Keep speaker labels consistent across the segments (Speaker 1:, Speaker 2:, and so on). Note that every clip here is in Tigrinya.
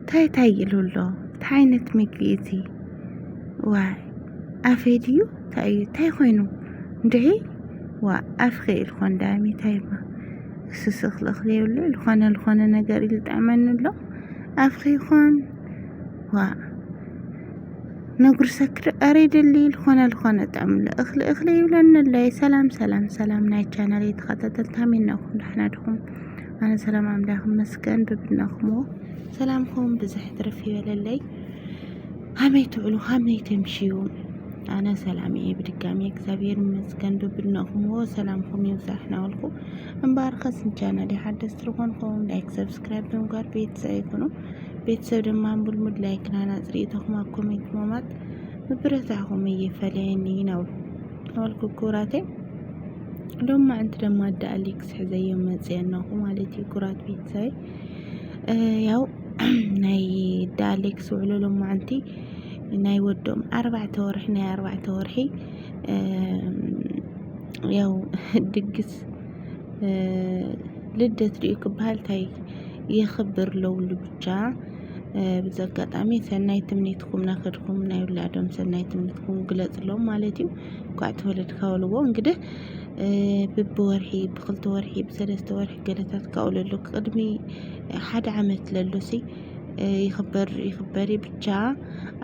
Speaker 1: ታይ ታይ ኢሉ ኣሎ ታይ ዓይነት ምግቢ እዚ ዋይ ኣፌ ድዩ ታይ እዩ ታይ ኮይኑ እንድዒ ዋ ኣፍኺ ኢልኮ እንዳሚ ታይ እባ ስስኽ ልእኽ ዘይብሉ ዝኾነ ዝኾነ ነገር እዩ ዝጥዕመኒ ኣሎ ኣፍኺ ይኾን ዋ ነጉርሰኪ ዶ ኣረ ይደሊ ዝኾነ ዝኾነ ጥዕም ልእኽ ልእኽ ዘይብለኒ ኣሎ ሰላም ሰላም ሰላም ናይ ቻናል ተኸታተልቲ ሃመይ ናኹም ዳሕና ድኹም ኣነ ሰላም ኣምላኽ መስገን ብብናኹሞ ሰላምኩም ብዝሕ ትርፍ ይበለለይ ሃመይ ትውዕሉ ሃመይ ተምሽዩ ኣነ ሰላም እየ ብድጋሚ እግዚኣብሔር ይመስገን ብብናኹሞ ሰላምኩም ይብዛሕ ናበልኩ እምበኣር ከስ ንቻናል ሓደስቲ ዝኾንኩም ላይክ ሰብስክራይብ ብምግባር ቤተሰብ ይኹኑ ቤተሰብ ድማ ምልሙድ ላይክ ናና ፅሪኢቶኹም ኣብ ኮሜንት ምማት ምብረታኹም እየፈለየኒ ናበልኩ ክብራተይ ሎም ማዕንቲ ደማ ኣዳ ኣሊክስ ሕዘዮም መፅ ኣናኹ ማለት እዩ ኩራት ቤተሰብ ያው ናይ ኣዳ ኣሊክስ ውዕሎ ሎም ማዕንቲ ናይ ወዶም ኣርባዕተ ወርሒ ናይ ኣርባዕተ ወርሒ ያው ድግስ ልደት ድዩ ክበሃል ታይ የኽብር ለውሉ ብቻ ብዚ ኣጋጣሚ ሰናይ ትምኒትኩም ናኸድኩም ናይ ውላዶም ሰናይ ትምኒትኩም ግለፅሎም ማለት እዩ እንኳዕ ተወለድካ በልዎ እንግዲህ ብብወርሒ ብክልተ ወርሒ ብሰለስተ ወርሒ ገለታት ካብኡ ለሎ ቅድሚ ሓደ ዓመት ለሎሲ ይኽበር ይኽበር ብቻ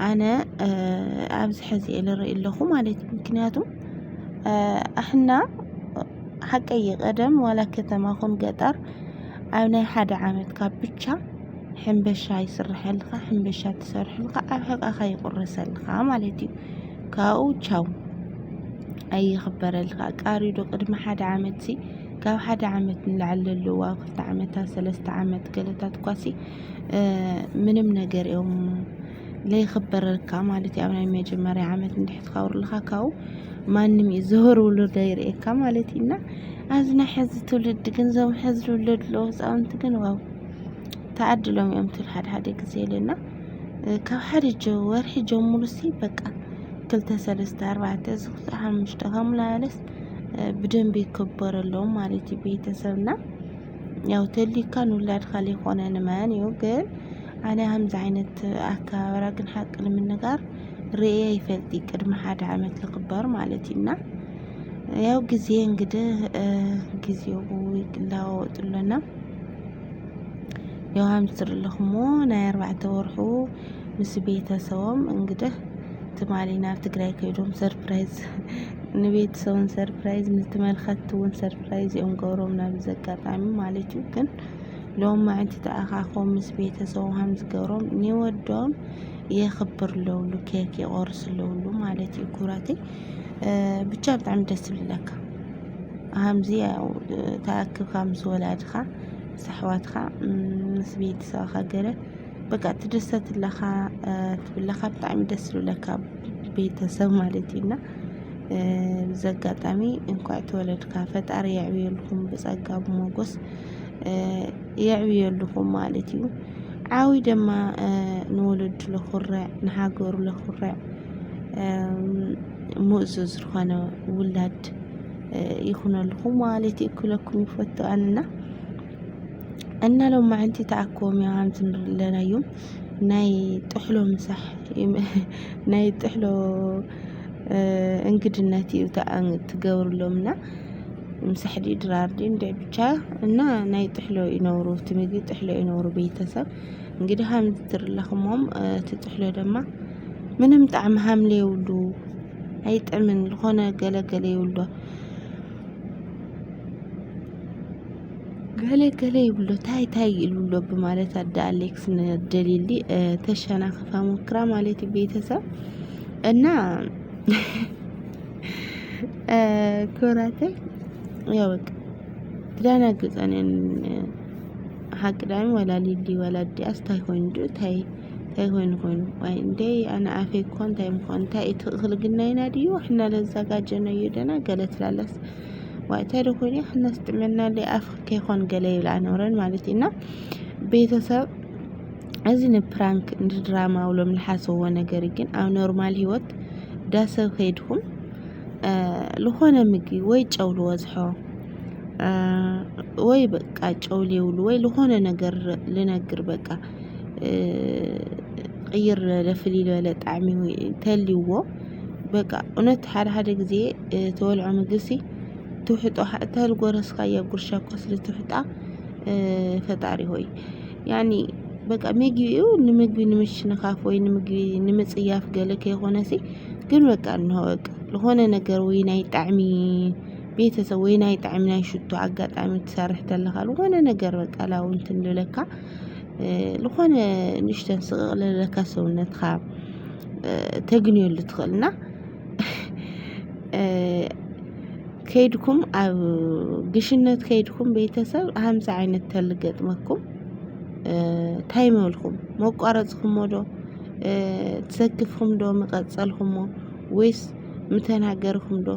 Speaker 1: ኣነ ኣብዚ ሕዚ እየ ልርኢ ኣለኹ ማለት እዩ ምክንያቱ ኣሕና ሓቀይ ቀደም ዋላ ከተማ ኹን ገጠር ኣብ ናይ ሓደ ዓመት ካብ ብቻ ሕንበሻ ይስርሐልካ ሕንበሻ ትሰርሐልካ ኣብ ሕቃኻ ይቁረሰልካ ማለት እዩ ካብኡ ቻው ኣይኽበረልካ ቃሪ ዶ ቅድሚ ሓደ ዓመት ሲ ካብ ሓደ ዓመት ንላዕሊ ለለዉ ኣብ ክልተ ዓመታት ሰለስተ ዓመት ገለታት እኳ ሲ ምንም ነገር እዮም ለይኽበረልካ ማለት እዩ ኣብ ናይ መጀመርያ ዓመት እንድሕር ትኸብርልካ ካብኡ ማንም እዩ ዝህር ውሉድ ኣይርእየካ ማለት እዩ እና ኣብዚ ናይ ሕዚ ትውልዲ ግን እዞም ሕዚ ዝውለዱ ኣለዉ ህፃውንቲ ግን ዋው ተዓድሎም እዮም ትብል ሓደ ሓደ ግዜ ኢለና ካብ ሓደ ወርሒ ጀምሩ ሲ በቃ ክልተ ሰለስተ ኣርባዕተ እዚ ክሳዕ ሓሙሽተ ከምኡ እናበለስ ብደንቢ ይከበረሎም ማለት እዩ ቤተሰብና ያው ተሊካ ንውላድካ ዘይኮነ ንመን እዩ ግን ኣነ ከምዚ ዓይነት ኣከባብራ ግን ሓቂ ንምንጋር ርእየ ይፈልጢ ቅድሚ ሓደ ዓመት ዝኽበር ማለት እዩና ያው ግዜ እንግዲህ ጊዜው ይለዋወጥ ኣሎና ያው ሃምስትር ኣለኹሞ ናይ ኣርባዕተ ወርሑ ምስ ቤተሰቦም እንግዲህ ትማሊ ናብ ትግራይ ከይዶም ሰርፕራይዝ ንቤተሰቡን ሰርፕራይዝ ንትመልኸት እውን ሰርፕራይዝ እዮም ገብሮም ናብ ዘጋጣሚ ማለት እዩ ግን ሎም ማዕንቲ ተኣኻኾም ምስ ቤተሰቡ ሃም ዝገብሮም ንወዶም የኽብር ለውሉ ኬክ ይቆርስ ለውሉ ማለት እዩ ኩራተይ ብቻ ብጣዕሚ ደስ ዝብለካ ሃምዚ ያው ተኣክብካ ምስ ወላድኻ ምስ ኣሕዋትኻ ምስ ቤተሰብኻ ገለ በቃ ትድሰት ኣለኻ ትብለኻ ብጣዕሚ ደስ ዝብለካ ቤተሰብ ማለት እዩ እና እዚ ኣጋጣሚ እንኳዕ ተወለድካ ፈጣሪ የዕብየልኩም ብጸጋ ብሞጎስ የዕብየልኩም ማለት እዩ ዓዊ ደማ ንወለዱ ለኹርዕ ንሃገሩ ለኹርዕ ሙእዙዝ ዝኾነ ውላድ ይኹነልኹም ማለት እዩ ክለኩም ይፈቱ ኣንና እና ሎም መዓንቲ ተኣኮም እዮም ሃምቲ ንርለና እዮም ናይ ጥሕሎ ምሳሕ ናይ ጥሕሎ እንግድነት እዩ ትገብርሎም እና ምሳሕ ድዩ ድራር ድዩ እንድዕ ብቻ እና ናይ ጥሕሎ ይነብሩ እቲ ምግቢ ጥሕሎ ይነብሩ ቤተሰብ እንግዲህ ሃምቲ ትርለኹሞም እቲ ጥሕሎ ደማ ምንም ጣዕሚ ሃምለ የብሉ ኣይጥዕምን ዝኾነ ገለ ገለ ይብሎ ገለ ገለ ይብሎ ታይ ታይ ይብሎ ብማለት ኣደ ኣሌክስ ንደሊሊ ተሸናኽፋ ሞክራ ማለት እዩ ቤተሰብ እና ክብራተይ ያው በቃ ትደናግፀን ሓቂ ዳኒ ወላ ሊሊ ወላ ዲያስ ታይ ኮይኑ ታይ እንታይ ኮይኑ ኮይኑ ዋይ እንዴ ኣነ ኣፌ እኮ እንታይ ምኾን እንታይ እዩ ትኽክል ግናይና ድዩ ሕና ለዛጋጀኖ እዩ ደና ገለ ትላለስ ዋይ እንታይ ዶ ኮይኑ ሕናስ ጥዕና ለይ ኣፍ ከይኾን ገለ ይብል ኣኖረን ማለት እዩ እና ቤተሰብ እዚ ንፕራንክ ንድራማ ውሎም ልሓሰዎ ነገር ግን ኣብ ኖርማል ህይወት ዳሰብ ከይድኩም ዝኾነ ምግቢ ወይ ጨው ልወዝሖ ወይ በቃ ጨው ሊውሉ ወይ ዝኾነ ነገር ልነግር በቃ ቅይር ዝበለ ፍልይ ዝበለ ጣዕሚ እንተልዩዎ በቃ እውነት ሓደ ሓደ ግዜ ተወልዖ ምግሲ ትውሕጦ እተልጎረስካያ ጉርሻ እኳ ስለ ትውሕጣ ፈጣሪ ሆይ ያኒ በቃ ምግቢኡ ንምግቢ ንምሽንኻፍ ወይ ንምግቢ ንምጽያፍ ገለ ከይኾነሲ ግን በቃ እንሆ በቃ ዝኾነ ነገር ወይ ናይ ጣዕሚ ቤተሰብ ወይ ናይ ጣዕሚ ናይ ሽቶ ኣጋጣሚ ትሰርሕ ተለኻ ዝኾነ ነገር በቃ ላውንት እንልለካ ልኾነ ንእሽተን ስቕቕ ለለካ ሰውነትካ ተግንየሉ ትኽእል እና ከይድኩም ኣብ ግሽነት ከይድኩም ቤተሰብ ሃምሳ ዓይነት ተል ገጥመኩም ታይ ምበልኩም መቋረጽኩሞ ዶ ትሰክፍኩም ዶ ምቐጸልኩሞ ወይስ ምተናገርኩም ዶ?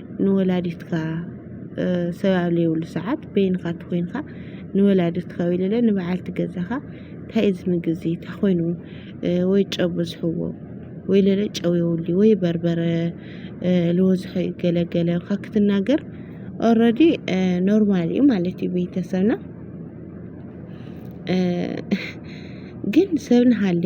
Speaker 1: ንወላዲትካ ሰብ ኣብ ዘይብሉ ሰዓት በይንኻ እንተኾይንካ ንወላዲትካ ወይ ልለ ንበዓልቲ ገዛኻ እንታይ እዩ እዚ ምግቢ እዚ እንታይ ኮይኑ ወይ ጨው በዝሕዎ ወይ ልለ ጨው የብሉይ ወይ በርበረ ልበዝሖ እዩ ገለ ገለ ኢልካ ክትናገር ኦረዲ ኖርማል እዩ ማለት እዩ ቤተሰብና ግን ሰብ ንሃሌ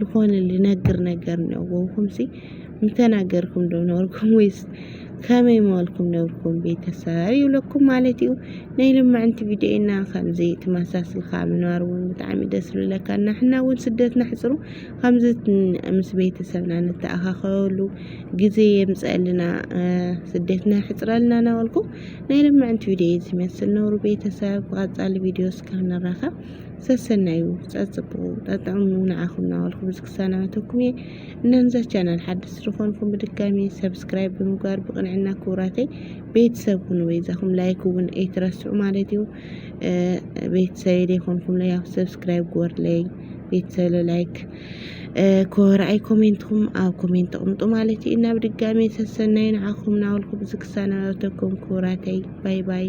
Speaker 1: ልኾነ ልነግር ነገር ነበውኩምሲ ምተናገርኩም ዶ ነበርኩም ወይስ ከመይ መበልኩም ነበርኩም ቤተሰብ ይብለኩም ማለት እዩ ናይ ልምዕንቲ ቪድዮና ከምዚ ትመሳስልካ ምንባር እውን ብጣዕሚ ደስ ዝብለካ ናሕና እውን ስደትና ሕፅሩ ከምዚ ምስ ቤተሰብና ንተኣኻኸበሉ ግዜ የምፀአልና ስደትና ሕፅረልና እናበልኩ ናይ ልምዕንቲ ቪድዮ ዝመስል ነብሩ ቤተሰብ ብቐፃሊ ቪድዮ እስከ ንራኸብ ሰሰናዩ ጸጽብቑ ጠጥዕሙ ንዓኹም ናበልኩ ብዙ ክሰናበተኩም እየ እና ንዛ ቻናል ሓድስ ዝኾንኩም ብድጋሚ ሰብስክራይብ ብምግባር ብቕንዕና ክቡራተይ ቤተሰብ ሁኑ በይዛኹም ላይክ እውን ኣይትረስዑ ማለት እዩ ቤተሰብ ዘይኮንኩም ለይ ኣብ ሰብስክራይብ ግበርለይ ቤተሰብ ላይክ ኮረኣይ ኮሜንትኹም ኣብ ኮሜንት ተቕምጡ ማለት እዩ እና ብድጋሚ ሰሰናዩ ንዓኹም ናበልኩ ብዙ ክሰናበተኩም ክቡራተይ ባይ ባይ